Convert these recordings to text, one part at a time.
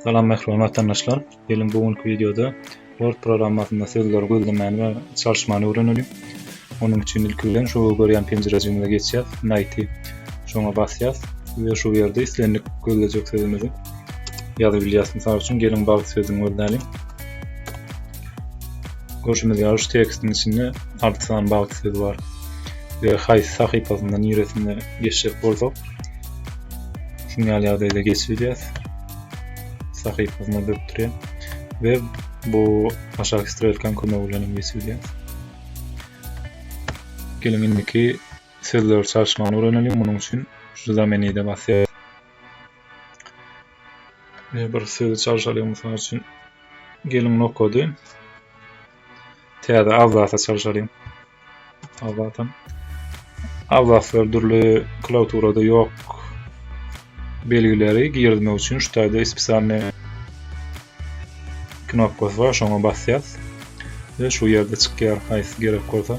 Salam mähriban watandaşlar. Geliň bu günki wideoda Word programmasynda sözleri gözlemäni we çalyşmany öwrenelim. Onuň üçin ilki bilen şu görýän penjirejigimize geçýär. Naýti şoňa basýar we şu ýerde islendik gözlejek sözümizi ýazyp bilýäs. Mysal üçin geliň bagt sözüni gözläliň. Görşümiz ýaly şu tekstiň içinde alty sany bagt sözi bar. Ve haýsy sahypasynda niresinde geçjek bolsak şuň ýaly ýagdaýda geçilýär. Sahypasyna bökdürýär ve bu aşaky strelkaň kömegi bilen hem geçilýär. Geliň indiki sözleri çalyşmagyny öwrenelim. Munuň üçin şu zamenide basýar. Ve bir sözi çalyşalyň mysal üçin Gelin nokady. Täze abzasa çalşalyň. Abzasam. Abzaslar dürli klauturada ýok. Belgileri girmek üçin şu taýda spesialny knopkasy bar, şoňa basýas. Ve şu ýerde çykýar, haýsy gerek bolsa.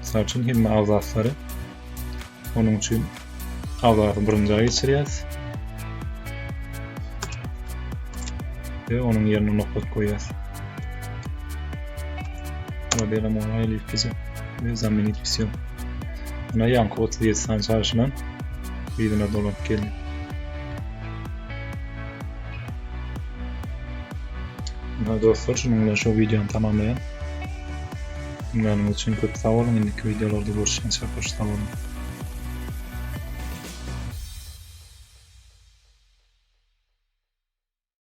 Mysal üçin hemme abzaslary onuň üçin abzasy birinji aýa geçirýäs. Ve onuň ýerine nokta goýýas. Probelem oňa aýlyp gidip we zaminit pisiýo. Ýa ýaňky otuz ýedi sany çaşylan ýerine dolanyp geldi. Dostlar, şunuň bilen şu videony tamamlaýan. Diňläniňiz üçin köp sag boluň indiki wideolarda görüşýänçä hoş sag boluň.